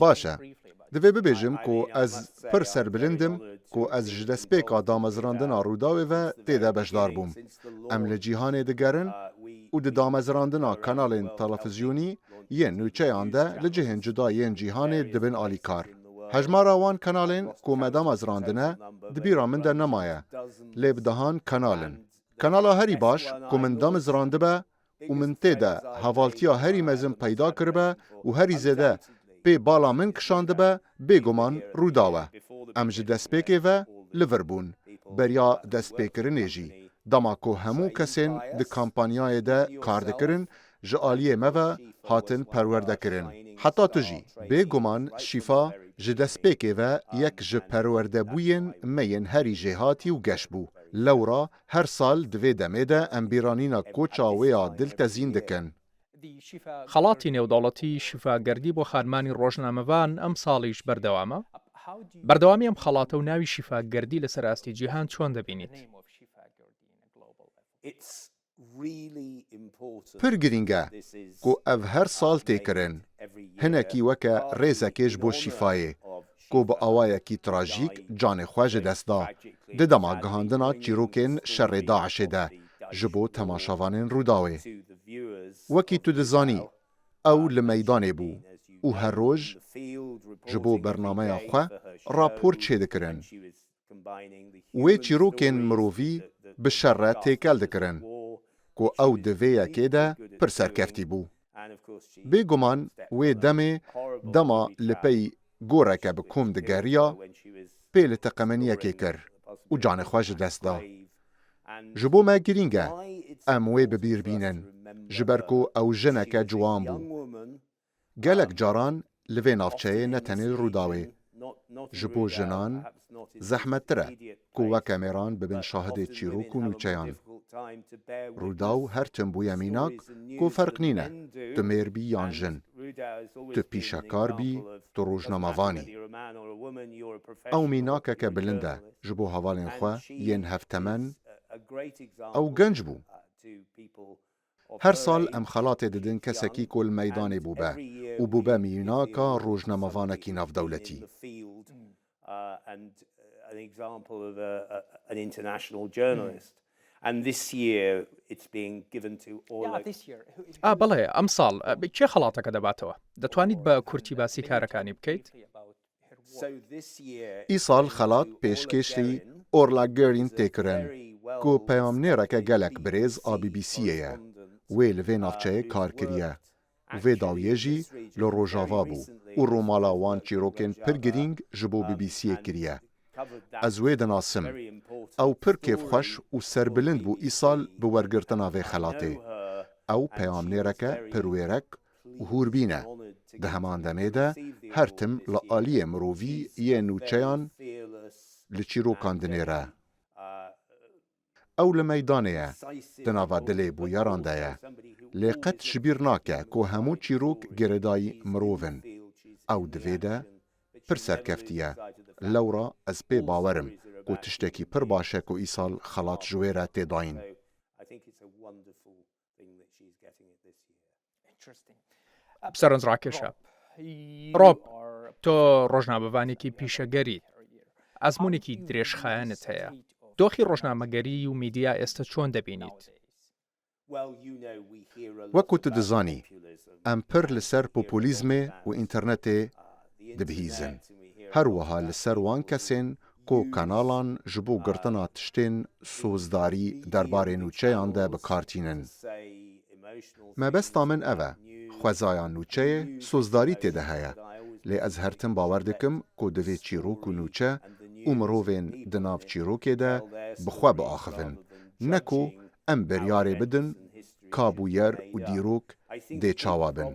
Baş e. Divê bibêjim ku ez pir serbilind im ku ez ji destpêka damezirandina Rûdawê ve tê de beşdar bûm. Em li cîhanê digerin û di damezirandina kanalên telefizyonî yên nûçeyan de li cihên cuda yên cîhanê dibin alîkar. Hejmara wan kanalên ku me damezirandine di bîra min de nemaye, lê bi dehan kanal in. Kanala herî baş ku min damizrandibe û min tê de hevaltiya herî mezin peyda kiribe û herî zêde pê bala min kişandibe, bêguman Rûdaw e. Em ji destpêkê ve li vir bûn, beriya destpêkirinê jî. Dema ku hemû kesên di kampanyayê de kar dikirin, ji aliyê me ve hatin perwerdekirin. Heta tu jî. Bêguman Şîfa ji destpêkê ve yek ji perwerdebûyên me yên herî jêhatî û geş bû. Lewra Her sal di vê demê de em bîranîna koça wê ya dil tezîn dikin. Xelatî Nêwdewletî Şîfa Gerdî bo xanimanî rojnamevan emsalî ji ber dewam e. Berdewamî em xelate û navî Şîfa Gerdî li ser astî cîhan çon dibînît? Pir girîng e ku ev her sal tê kirin. Hinekî weke rêzekê ji bo Şîfayê ku bi awayekî trajîk canê xwe ji dest da di dema gihandina çîrokên şerê DAIŞ'ê de ji bo temaşavanên Rûdawê. Wekî tu dizanî ew li meydanê bû û her roj ji bo bernameya xwe rapor çêdikirin. Wê çîrokên mirovî bi şer re têkel dikirin ku ew di vê yekê de pir serkeftî bû. Bêguman wê demê dema li pey goreke bi kom digeriya pê li teqemeniyekê kir û canê xwe ji dest da. Ji bo me girîng e em wê bi bîr bînin ji ber ku ew jineke ciwan bû. Gelek caran li vê navçeyê ne tenê li Rûdawê, ji bo jinan zehmettir e ku weke mêran bibin şahidê çîrok û nûçeyan. Rûdaw her tim bûye mînak ku ferq nîne tu mêr bî yan jin, tu pîşekar bî, tu rojnamevan î. Ew mînakeke bilind e ji bo hevalên xwe yên hevtemen, ew genc bû. Her sal em xelatê didin kesekî ku li meydanê bûbe û bûbe miyînaka rojnamevanekî navdewletî. A, belê, emsal kê xelateke debatewe? Detwanît bi kurtî basî karekanî bikeyt? Îsal xelat pêşkêşî Orla Guerin tê kirin, ku peyamnêreke gelek birêz a BBC'ê ye. Wê li vê navçeyê kar kiriye û vê dawiyê jî li Rojava bû û rûmala wan çîrokên pir girîng ji bo BBC'ê kiriye. Ez wê dinasim. Ew pir kêfxweş û serbilind bû îsal bi wergirtina vê xelatê. Ew peyamnêreke pirwêrek û hûrbîn e. Di heman demê de her tim li aliyê mirovî yê nûçeyan li çîrokan dinêre. Ew li meydanê ye, di nava dilê bûyeran de ye. Lê qet ji bîr nake ku hemû çîrok girêdayî mirov in. Ew di vê de pir serkeftî ye. Lewra ez pê bawer im ku tiştekî pir baş e ku îsal xelat ji wê re tê dayîn. Seranzrakej e. Rob, tu rojnamevanekî pîşeger î. Ezmûnekî dirêjxayanit heye. Doxî rojnamegerî û mîdya êste çon debînît? Wek ku tu dizanî, em pir li ser populîzmê û înternetê dibihîzin. Her wiha li ser wan kesên ku kanalan ji bo girtina tiştên sozdarî derbarê nûçeyan de bi kar tînin. Mebesta min ev e, xwezaya nûçeyê sozdarî tê de heye, lê ez her tim bawer dikim ku divê çîrok û nûçe û mirovên di nav çîrokê de bi xwe biaxivin, ne ku em biryarê bidin ka bûyer û dîrok dê çawa bin.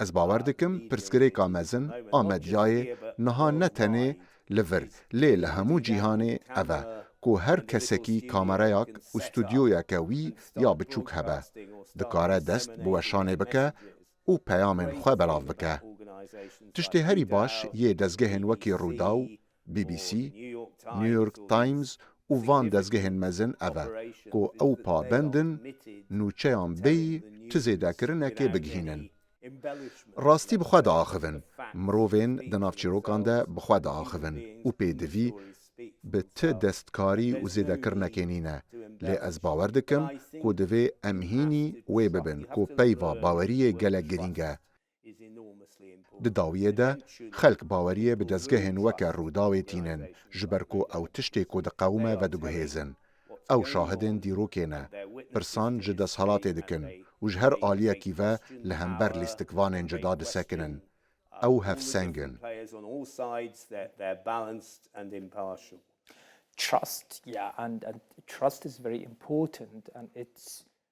Ez bawer dikim pirsgirêka mezin a medyayê niha ne tenê li vir lê li hemû cîhanê ev e ku her kesekî kamereyak û studyoyeke wî ya biçûk hebe dikare dest bi weşanê bike û peyamên xwe belav bike. Tiştê herî baş yê dezgehên wekî Rûdaw BBC, New York Times û van dezgehên mezin ev e ku ew pabend in nûçeyan bêyî çi zêdekirinekê bigihînin. Rastî bi xwe diaxivin, mirovên di nav çîrokan de bi xwe diaxivin û pêdivî bi ti destkarî û zêdekirinekê nîne, lê ez bawer dikim ku divê em hînî wê bibin ku peyva baweriyê gelek girîng e. Di dawiyê de xelk baweriyê bi dezgehên weke Rûdawê tînin ji ber ku ew tiştê ku diqewime vediguhêzin. Ew şahidên dîrokê ne, pirsan ji desthilatê dikin û ji her aliyekî ve li hember lîstikvanên cuda disekinin. Ew hevseng in.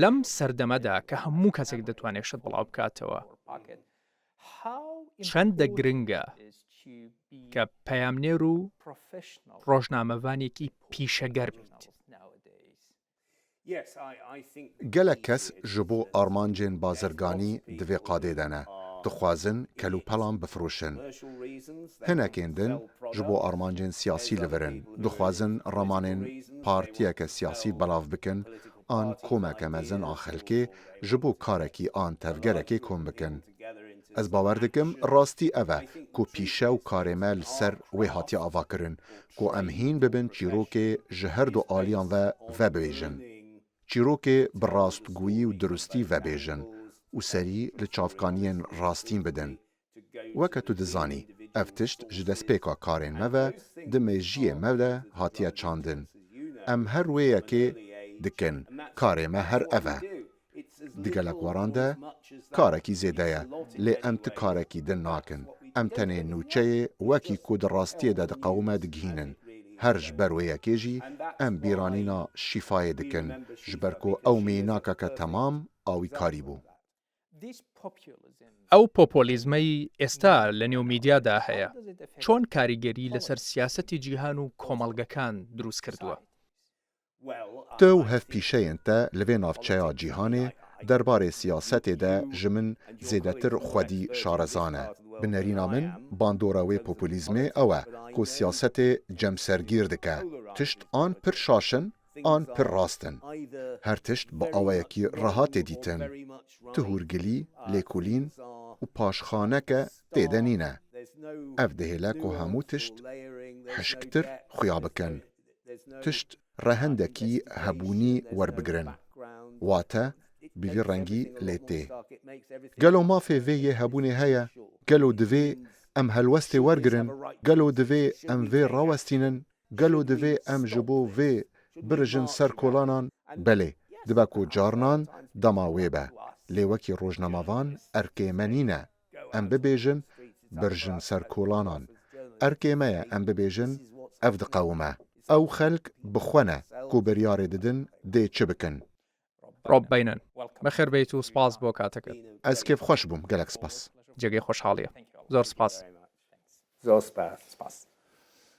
Lem serdeme de ke hemû kesek ditwene şit belav bikatewe, çende giring e ke peyamnêr û rojnamevanekî pîşeger bît. Gelek kes ji bo armancên bazirganî di vê qadê de ne, dixwazin kelûpelan bifiroşin. Hinekên din Ji bo armancên siyasî li vir in, dixwazin ramanên partiyeke siyasî belav bikin an komeke mezin a xelkê ji bo karekî an tevgerekê kom bikin. Ez bawer dikim rastî ev e ku pîşe û karê me li ser wê hatiye avakirin ku em hîn bibin çîrokê ji her du aliyan ve vebêjin, çîrokê bi rastgûyî û dirustî vebêjin û serî li çavkaniyên rastîn bidin. Weke tu dizanî, ev tişt ji destpêka karên me ve di mêjiyê me de hatiye çandin. Em her wê yekê dikin, karê me her ev e. Di gelek weran de karekî zêde ye, lê em ti karekî din nakin. Em tenê nûçeyê wekî ku di rastiyê de diqewime digihînin. Her ji ber wê yekê jî em bîranîna Şîfayê dikin, ji ber ku ew mînakeke temam awîkarî bû. Ew popolîzmeyî êsta li nêw mîdya de heye çon karîgerî li ser siyasetê cîhan û komelgekan dirûst kirduwe? Te û hevpîşeyên te li vê navçeya cîhanê derbarê siyasetê de ji min zêdetir xwedî şarezan e. Bi nerîna min bandora wê popolîzmê ew e ku siyasetê cemsergîr dike. Tişt an pir şaş in An pir rast in. Her tişt bi awayekî reha tê dîtin. Ti hûrgilî, lêkolîn û paşxaneke tê de nîne. Ev dihêle ku hemû tişt hişktir xuya bikin. Tişt rehendekî hebûnî werbigirin. Wate bi vî rengî lê tê. Gelo mafê vê yê hebûnê heye? Gelo divê em helwestê wergirin? Gelo divê em vê rawestînin? Gelo divê em ji bo vê birijin ser kolanan? Belê, dibe ku carinan dema wê be. Lê wekî rojnamavan erkê me nîne em bibêjin birijin ser kolanan. Erkê me ye em bibêjin ev diqewime. Ew xelk bi xwe ne ku biryarê didin dê çi bikin. Rob Beynon, Bi xêr bêyî tu spas bo katiket. Ez kêfxweş bûm gelek spas. Cihgê xoşhalî ye. Zor spas. Zor spas.